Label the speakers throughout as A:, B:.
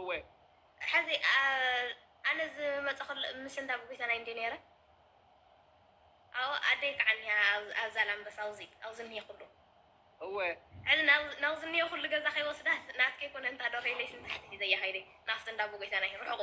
A: እወ። ሐዚ
B: ኣነ ዝመፀኹ ምስ እንዳ ብጎይታና እንድየ ነይረ። ኣዎ ኣደይ ከዓ እኒሃ ኣብ ዛላምበሳ ኣውዚ ኣውዚ እኒሄ ኩሉ። እወ።
A: ሐዚ ናውዚ
B: እኒሄ ኩሉ ገዛ ከይወስዳ ናትኪ ኣይኮነን እታ ዶርሆይለይስ ንታሕቲ ሒዘያ ከይደ ናብቲ እንዳ ኣቦጎይታናይ ርሑቑ።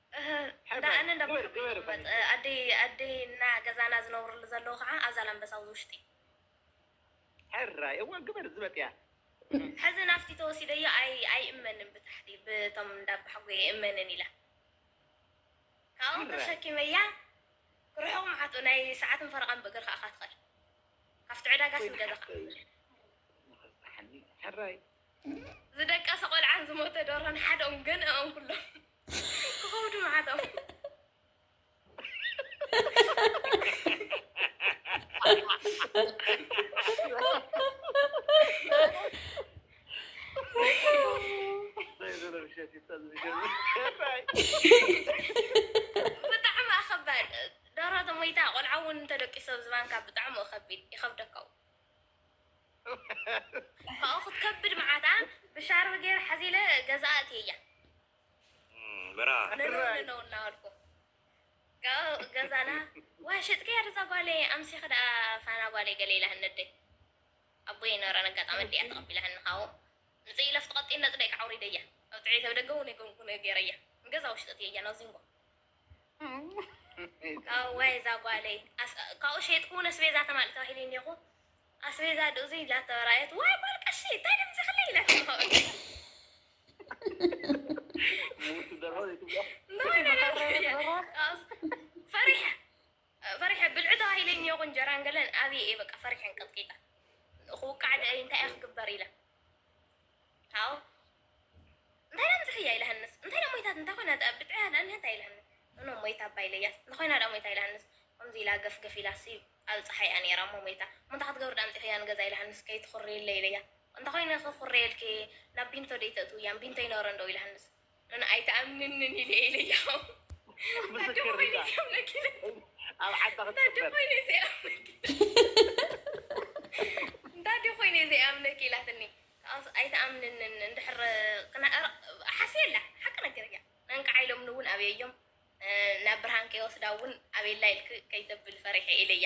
B: እህ እንዳ ኣነ እንዳ በርኩ እዩ ዝቕመጥ። ኣደይ ኣደይ እና ገዛና ዝነብርሉ ዘለዉ ካዓ ኣብ ዛላምበሳ ኣብዚ ውሽጢ።
A: ሕራይ እወ ግበር ዝበጥያ። ሐዚ ናፍቲ
B: ተወሲደዮ ኣይ ኣይእመንን ብታሕቲ ብቶም እንዳ ኣባሓጎይ ኣይእመንን ኢላ ካባኦም ሕራይ። ተሸኪመያ ክርሕቁ ምዓቱ ናይ ሰዓትን ፈረቓን ብእግርካ እኻ ትኸድ ካፍቲ ዕዳጋስ ወይኒ ንገዛኻ ሓፍተይ ንኽስሓኒ
A: ሕራይ።
B: ዝደቀሰ ቆልዓን ዝሞተ ደርሆን ሓደ ኦም ገንእኦም ኩሎም። ክኸውዱ መዓቶም ብጣዕሚ ኣኸባድ ደራቶ ሞይታ ቆልዓ እውን እንተደቂሶ ዝባንካ ብጣዕሚ ከቢድ ይኸብደካው ካብኡ ክትከብድ መዓታ ብሻርቢ ገይረ ሓዚለ ገዛ ኣእትየያ
C: ምራ ነነው
B: እናበልኩ ካብኡ ገዛና ዋ ሸጥከያ ደዛ ጓለይ ኣምሲኺ ደኣ ፋና ጓለይ ገለ ኢላ ህነደይ ኣቦ ይነበረን ኣጋጣሚ ኣዲኣ ተቐቢላሃኒ ካብኡ ምፅእ ኢለ ኣብቲ ቀጢን ነፅደይ ከዓ ኣውሪደያ ኣብ ጥዕይ ተብደገ እውን የገንኩ ገይረያ ንገዛ ውሽጢ እትየያ ናብዚንጎ ኣዋይ እዛ ጓለይ ካብኡ ሸይጥኩ እውን ኣስቤዛ ተማልእ ተባሂለ እኒሀኹ ኣስቤዛ ዶ እዙይ ኢላቶ ራየት ዋይ ጓል ቀሺ እንታይ ዶ ምዚኽለ ኢላቶ ፈሪሐ ፈሪሐ ብልዑ ተባሂለ እኒሀኹ እንጀራን ገለን ኣብየ እየ በቃ ፈሪሐን ቀጥቂጣ ክውቃዕ እንታይ እየ ክግበር ኢለ ሃው እንታይ ደኣ ምጽሕይ ኣይ ለሀንስ እንታይ ደኣ ሞይታት እንተ ኮይና ደኣ ብጥዕያ ደኣ እንሀት ኣይ ለሀንስ እኖ ሞይታ እባ ኢለያስ እንተ ኮይና ደኣ ሞይታ ኣይ ለሀንስ ከምዚ ኢላ ገፍ ገፍ ኢላ ስብ ኣብ ጸሓይ እያ ነይራ እሞ ሞይታ እሞ እንታይ ክትገብሪ ደኣ ኣምጺኽያ ንገዛ ኣይ ለሀንስ ከይትኹርይለይ ኢለያ እንተ ኮይነ ክኹርየልኪ ናብ ቢንቶ ደይ ተእትውያ ቢንቶ ይነበረን ዶ ኢለሀንስ ኣነ ኣይትኣምንንን ኢለ ኢለያው
A: ኣደ ኮይነ ዘይኣምነኪ ኣብ ዓዳ ክትቅበር እንታ
B: ኣደ ኮይነ ዘይኣምነኪ ኢላትኒ ከኣስ ኣይትኣምንንን እንድሕር ሓስየላ ሓቂ ነገር እያ እንቃዓ ኢሎምኒ እውን ኣብየዮም ናብ ብርሃን ከይወስዳ እውን ኣብየላ ኢልክ ከይተብል ፈሪሐ ኢለያ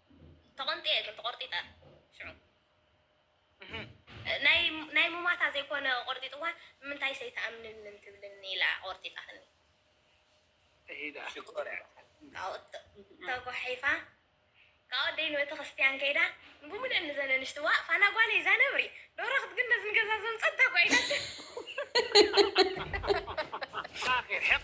B: ተቐንጥየ እግሪ ተቖርጢጠ ሽዑ ናይ ሙማታ ዘይኮነ ቆርጢጥዋ ንምንታይ ሰይትኣምንንን ትብልኒ ኢላ ቆርጢጣትኒ
A: ካኡ
B: ተጓሒፋ ካብ ኣደይ ንቤተክርስትያን ከይዳ ብሙሉኤን ንዘን ኣንሽቲ ዋእ ፋና ጓለይ እዛ ነብሪ ዶሮ ክትግነዝ ንገዛ ዘምፀት እታ ጓይላ ሓቒ
A: ሕቕ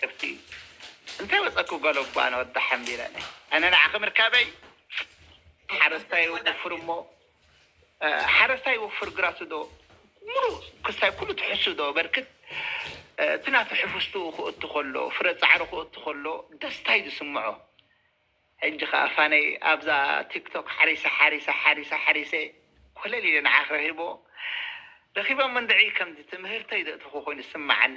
A: ከብቲ እንታይ ወጸኩ በሎ እባ ንወዳ ሓምቢረ ኣነ ንዓኺ ምርካበይ ሓረስታይ ይወፍር እሞ ሓረስታይ ይወፍር ግራቱ ዶ ምሉእ ክሳይ ኩሉ ትሕሱ ዶ በርክት እቲ ናቱ ሕፍስትኡ ክእቱ ከሎ ፍረ ጻዕሩ ክእቱ ከሎ ደስታይ ዝስምዖ ሕጂ ከኣ ፋነይ ኣብዛ ቲክቶክ ሓሪሰ ሓሪሰ ሓሪሰ ሓሪሰ ኮለል ኢለ ንዓኺ ረኺቦ ረኺቦም እንድዒ ከምዚ ትምህርተይ ዘእተኹ ኮይኑ ዝስምዓኒ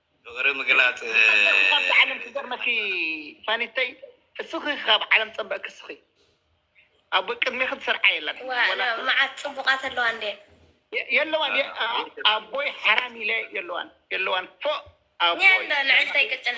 D: ፍቅሪ
C: ምግላፅ ፀበቅ ካብዛ
A: ዓለም ክገርመኪ ፋኒተይ እስኺ ካብ ዓለም ፀበቅ ክስኺ ኣብ ቅድሜኺ ዝሰርዓ የለን መዓት
B: ፅቡቃት ኣለዋ እንዴ
A: የለዋን ኣቦይ ሓራም ኢለ የለዋን የለዋን ፎእ ኣቦይ ልዕልተይ ቅጭን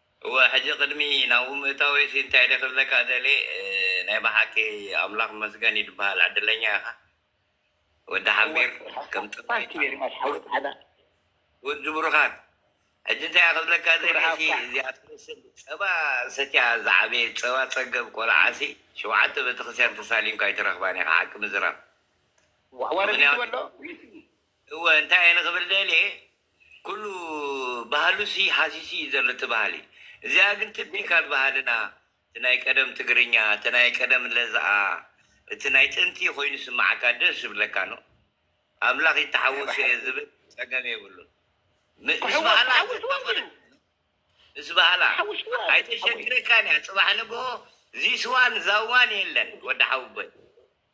A: እወ
C: ሕጂ ቅድሚ ናብኡ ምእታወይሲ እንታይ ድየ ክብለካ ደልየ ናይ ብሓቂ ኣምላኽ ይመስገን እዩ ድበሃል ዕድለኛ ኢኻ ወዲ ሓምቢር ከም ጥንታዊ
A: ወዲ
C: ብሩኻት ሕጂ እንታይ እየ ክብለካ ደልየሲ እዚኣ ትመስል ጸባ ሰትያ ዝዓበየት ጸባ ጸገብ ቆልዓሲ ሸውዓተ ቤተክርስትያን ተሳሊምካ ኣይትረኽባን ኢኻ ሓቂ ምዝራብ ምኽንያቱ እወ እንታይ እየ ንክብል ደልየ ኩሉ ባህሉሲ ሃሲሱ እዩ ዘሎ እቲ ባህሊ እዚኣ ግን ቲፒካል ባህልና እቲ ናይ ቀደም ትግርኛ እቲ ናይ ቀደም ለዝኣ እቲ ናይ ጥንቲ ኮይኑ ይስማዓካ ደስ ይብለካ ን ኣምላክ ይታሓወሶ እየ ዝብል ጸገም የብሉን ምስ ባህላ ዘፋቅር ምስ ባህላ ኣይተሸግረካን እያ ጽባሕ ንግሆ ዚስዋን ዛዋን የለን ወዲ ሓውቦይ።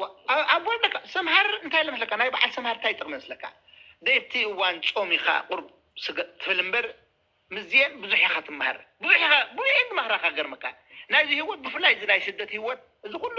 D: ዋእ ኣቦይ
A: በቃ ሰምሃር እንታይ ኣለ መስለካ ናይ በዓል ሰምሃር እንታይ ጥቕሚ መስለካ ደቲ እዋን ጾም ኢኻ ቁርብ ስጋ ትብል እምበር ምስዚኤን ብዙሕ ኢኻ ትመሃር ብዙሕ ኢኻ ብዙሕ እየን ዝመኽራኻ ክገርመካ ናይዚ ህይወት ብፍላይ እዚ ናይ ስደት ህይወት እዚ ኩሉ